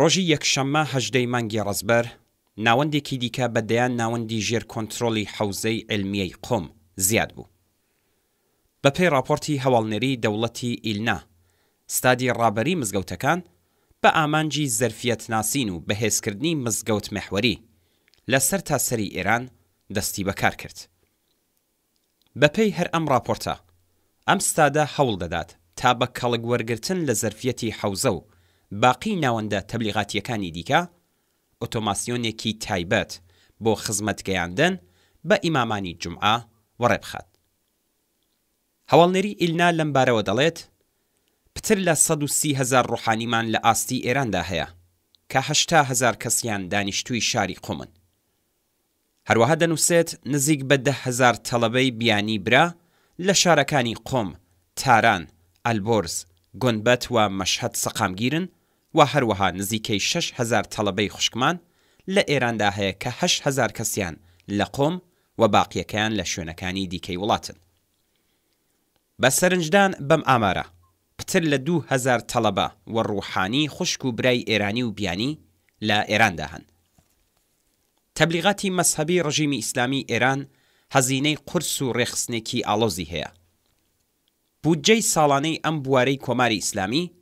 ڕۆژی یەکشەممە هەژدە ی مانگی ڕەزبەر، ناوەندێکی دیکە بە دەیان ناوەندی ژێر کۆنترۆڵی حەوزەی عیلمیەی قوم زیاد بوو. بە پێی ڕاپۆرتی هەواڵنێری دەوڵەتی ئیلنا، ستادی ڕابەری مزگەوتەکان بە ئامانجی زەرفیەت ناسین و بەهێزکردنی مزگەوت مێحوەری لە سەرتاسەری ئێران دەستی بە کار کرد. بەپێی هەر ئەم ڕاپۆرتە، ئەم ستادە هەوڵ دەدات تا بە کەڵک وەرگرتن لە زەرفیەتی حەوزە و باقی ناوەندە تەبلیغاتییەکانی دیکە، ئۆتۆماسیۆنێکی تایبەت بۆ خزمەت گەیاندن بە ئیمامانی جومعە وەڕێ بخات. هەواڵنێری ئیلنا لەم بارەوە دەڵێت، پتر لە سەد و سی هەزار ڕۆحانیمان لە ئاستی ئێراندا هەیە، کە هەشتا هەزار کەسیان دانیشتووی شاری قومن. هەروەها دەنووسێت نزیک بە دە هەزار تەڵەبەی بیانی برا لە شارەکانی قوم، تاران، ئەلبۆرز، گونبەت و مەشهەد سەقامگیرن و هەروەها نزیکەی شەش هەزار تەڵەبەی خوشکمان لە ئێراندا هەیە کە هەشت هەزار کەسیان لە قوم و باقیەکەیان لە شوێنەکانی دیکەی وڵاتن. بە سەرنجدان بەم ئامارە، پتر لە دوو هەزار تەڵەبە و ڕووحانی خوشک و برای ئێرانی و بیانی لە ئێراندا هەن. تەبلیغاتی مەزهەبی ڕژیمی ئیسلامیی ئێران هەزینەی قورس و ڕێکخستنێکی ئاڵۆزی هەیە. بودجەی ساڵانەی ئەم بوارەی کۆماری ئیسلامی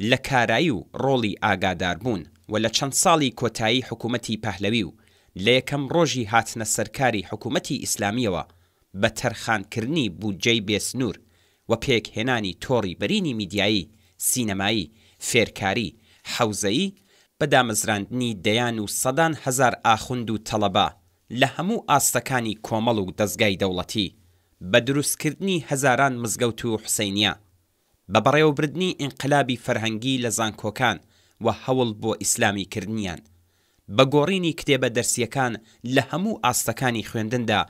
لە کارایی و ڕۆڵی ئاگاداربوون و لە چەند ساڵی کۆتایی حکوومەتی پەهلەوی و لە یەکەم ڕۆژی هاتنە سەرکاری حکوومەتی ئیسلامییەوە بە تەرخانکردنی بودجەی بێسنوور و پێکهێنانی تۆڕی بەرینی میدیایی، سینەمایی، فێرکاری، حەوزەیی بە دامەزراندنی دەیان و سەدان هەزار ئاخوند و تەڵەبە لە هەموو ئاستەکانی کۆمەڵ و دەزگای دەوڵەتی، بە دروستکردنی هەزاران مزگەوت و حوسەینیە، بە بەڕێوەبردنی ئینقلابی فەرهەنگی لە زانکۆکان و هەوڵ بۆ ئیسلامی کردنیان، بە گۆڕینی کتێبە دەرسیەکان لە هەموو ئاستەکانی خوێندندا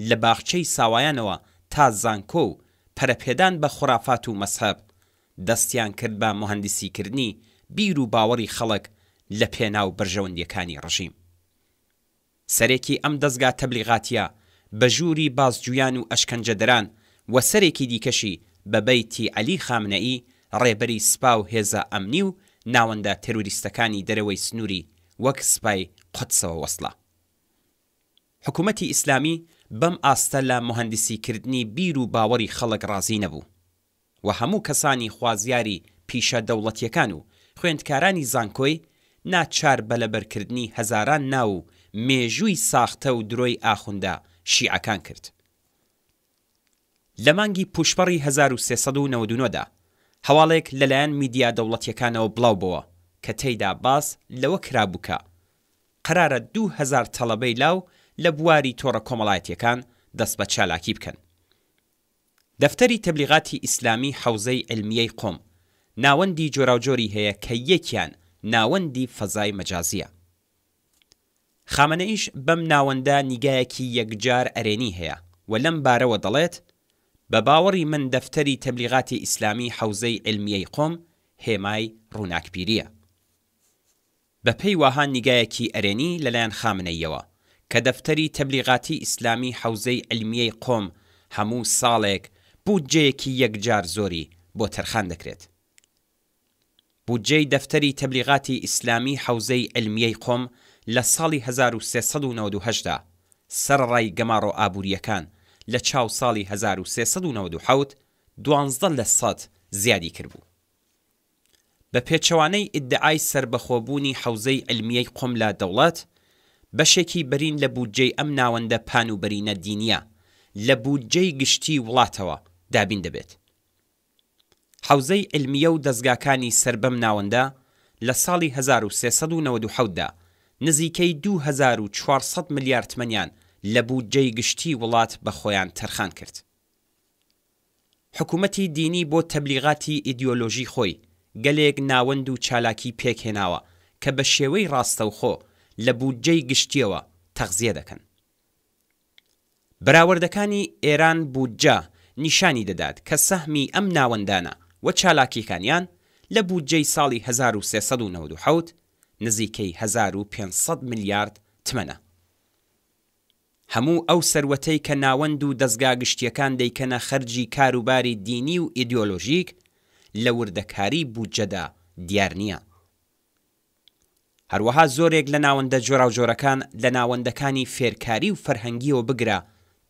لە باخچەی ساوایانەوە تا زانکۆ و پەرەپێدان بە خورافات و مەزهەب، دەستیان کرد بە موهەندیسی کردنی بیر و باوەڕی خەڵک لە پێناو بەرژەوەندیەکانی ڕژیم. سەرێکی ئەم دەزگا تەبلیغاتیە بە ژووری بازجویان و ئەشکەنجەدران و سەرێکی دیکەشی بە بەیتی عەلی خامنەئی ڕێبەری سپا و هێزە ئەمنی و ناوەندە تێروریستەکانی دەرەوەی سنوری وەک سپای قودسەوە وەسڵە. حکومەتی ئیسلامی بەم ئاستە لە موهەندیسی کردنی بیر و باوەڕی خەڵک ڕازی نەبوو. و هەموو کەسانی خوازیاری پیشە دەوڵەتیەکان و خوێندکارانی زانکۆی ناچار بە لەبەرکردنی هەزاران ناو و مێژووی ساختە و درۆی ئاخوندە شیعەکان کرد. لە مانگی پووشپەڕی هەزار و سێ سەد و نەوەد و نۆ دا هەواڵێک لەلایەن میدیا دەوڵەتیەکانەوە بڵاوبۆوە کە تێیدا باس لەوە کرابوو کە قەرارە دوو هەزار تەڵەبەی لاو لە بواری تۆڕە کۆمەڵایەتیەکان دەست بە چالاکی بکەن. دەفتەری تەبلیغاتی ئیسلامی حەوزەی عیلمیەی قوم ناوەندی جۆراوجۆری هەیە کە یەکیان ناوەندی فەزای مەجازیە خامەنەئیش بەم ناوەندە نیگایەکی یەکجار ئەرێنی هەیە و لەم بارەوە دەڵێت بە باوەڕی من دەفتەری تەبلیغاتی ئیسلامی حەوزەی عیلمیەی قوم هێمای ڕوناکبیریە بەپێی واها نیگایەکی ئەرێنی لەلایەن خامنەییەوە کە دەفتەری تەبلیغاتی ئیسلامی حەوزەی عیلمیەی قۆم هەموو ساڵێک بودجەیەکی یەکجار زۆری بۆ تەرخان دەکرێت. بودجەی دەفتەری تەبلیغاتی ئیسلامی حەوزەی عیلمیەی قۆم لە ساڵی هەزار و سێ سەد و نەوەد و هەشت دا سەرەڕای گەماڕۆ ئابوورییەکان لە چاو ساڵی هەزار و سێ سەد و نەوەد و حەوت دوانزدە لە سەد زیادی کردبوو. بە پێچەوانەی ئیدعای سەربەخۆبوونی حەوزەی عیلمیەی قوم لە دەوڵەت، بەشێکی بەرین لە بودجەی ئەم ناوەندە پان و بەرینە دینیە لە بودجەی گشتی وڵاتەوە دابین دەبێت. حەوزەی عیلمیە و دەزگاکانی سەر بەم ناوەندە لە ساڵی هەزار و سێ سەد و نەوەد و حەوت دا نزیکەی دوو هەزار و چوار سەد ملیار تمەنیان لە بودجەی گشتی وڵات بە خۆیان تەرخان کرد. حکومەتی دینی بۆ تەبلیغاتی ئیدیۆلۆژی خۆی گەلێک ناوەند و چالاکی پێک هێناوە کە بە شێوەی ڕاستەوخۆ لە بودجەی گشتیەوە تەغزیە دەکەن. بەراوەردەکانی ئێران بودجە نیشانی دەدات کە سەهمی ئەم ناوەندانە و چالاکیەکانیان لە بودجەی ساڵی هەزار و سێ سەد و نەوەد و حەوت نزیکەی هەزار و پێنج سەد ملیارد تمەنە. هەموو ئەو سەروەتەی کە ناوەند و دەزگا گشتییەکان دەیکەنە خەرجی کاروباری دینی و ئیدیۆلۆژیک لە وردەکاری بودجەدا دیار نییە. هەروەها زۆرێک لە ناوەندە جۆراوجۆرەکان لە ناوەندەکانی فێرکاری و فەرهەنگییەوە بگرە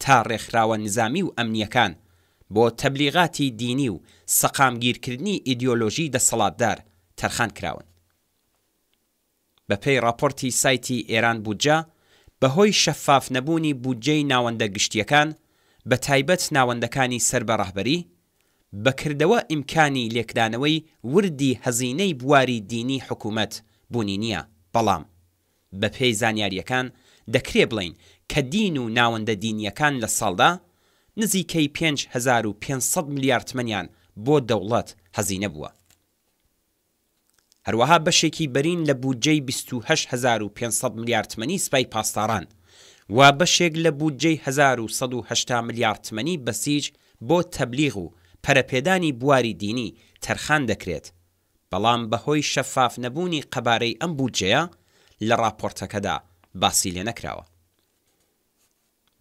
تا ڕێکخراوە نزامی و ئەمنییەکان بۆ تەبلیغاتی دینی و سەقامگیرکردنی ئیدیۆلۆژیی دەسەڵاتدار تەرخان کراون. بەپێی ڕاپۆرتی سایتی ئێران بودجە، بەهۆی شەفاف نەبوونی بودجەی ناوەندە گشتییەکان، بەتایبەت ناوەندەکانی سەر بە ڕەهبەری، بەکردەوە ئیمکانی لێکدانەوەی وردی هەزینەی بواری دینی حکوومەت بوونی نییە، بەڵام بەپێی زانیارییەکان دەکرێ بڵێین کە دین و ناوەندە دینییەکان لە ساڵدا نزیکەی پێنج هەزار و پێنج سەد ملیار تمەنیان بۆ دەوڵەت هەزینە بووە. هەروەها بەشێکی بەرین لە بودجەی بیست و هەشت هەزار و پێنج سەد ملیار تمەنی سپای پاسداران و بەشێک لە بودجەی هەزار و سەد و هەشتا ملیار تمەنی بەسیج بۆ تەبلیغ و پەرەپێدانی بواری دینی تەرخان دەکرێت، بەڵام بەهۆی شەفاف نەبوونی قەبارەی ئەم بودجەیە لە ڕاپۆرتەکەدا باسی لێنەکراوە.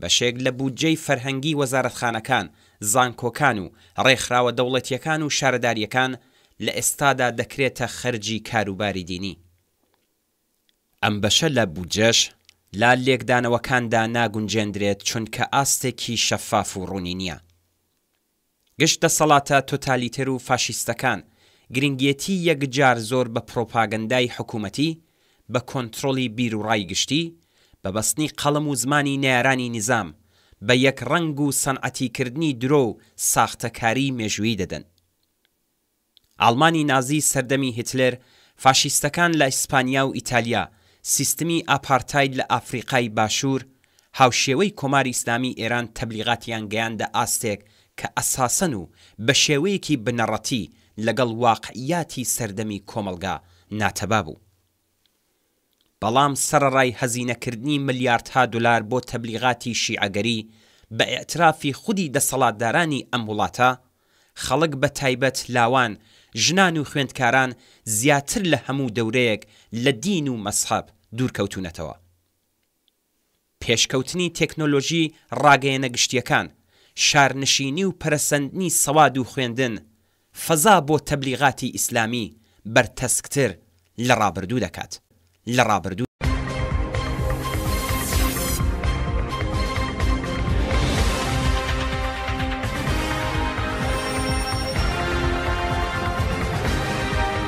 بەشێک لە بودجەی فەرهەنگی وەزارەتخانەکان، زانکۆکان و ڕێکخراوە دەوڵەتییەکان و شارەدارییەکان لە ئێستادا دەکرێتە خەرجی کاروباری دینی. ئەم بەشە لە بودجەش لە لێکدانەوەکاندا ناگونجێندرێت چونکە ئاستێکی شەفاف و ڕوونی نییە. گشت دەسەڵاتە تۆتالیتەر و فاشیستەکان گرنگێتی یەکجار زۆر بە پڕۆپاگەندای حکوومەتی، بە کۆنترۆڵی بیروڕای گشتی، بە بەستنی قەڵەم و زمانی نەیارانی نیزام، بە یەکڕەنگ و سەنعەتیکردنی درۆ و ساختەکاریی مێژوویی دەدەن. ئاڵمانی نازی سەردەمی هیتلێر، فاشیستەکان لە ئیسپانیا و ئیتالیا، سیستمی ئاپارتاید لە ئافریقای باشوور، هاوشێوەی کۆماری ئیسلامی ئێران تەبلیغاتیان گەیاندە ئاستێک کە ئەساسەن و بە شێوەیەکی بنەڕەتی لەگەڵ واقعیاتی سەردەمی کۆمەڵگا ناتەبا بوو. بەڵام سەرەڕای هەزینەکردنی ملیاردها دولار بۆ تەبلیغاتی شیعەگەری بە ئیعترافی خودی دەسەڵاتدارانی ئەم وڵاتە، خەڵک بە تایبەت لاوان، ژنان و خوێندکاران زیاتر لە هەموو دەورەیەک لە دین و مەزهەب دوورکەوتوونەتەوە. پێشکەوتنی تێکنۆلۆژی ڕاگەیەنە گشتییەکان، شارنشینی و پەرەسەندنی سەواد و خوێندن، فەزا بۆ تەبلیغاتی ئیسلامی بەرتەسکتر لە ڕابردوو دەکات.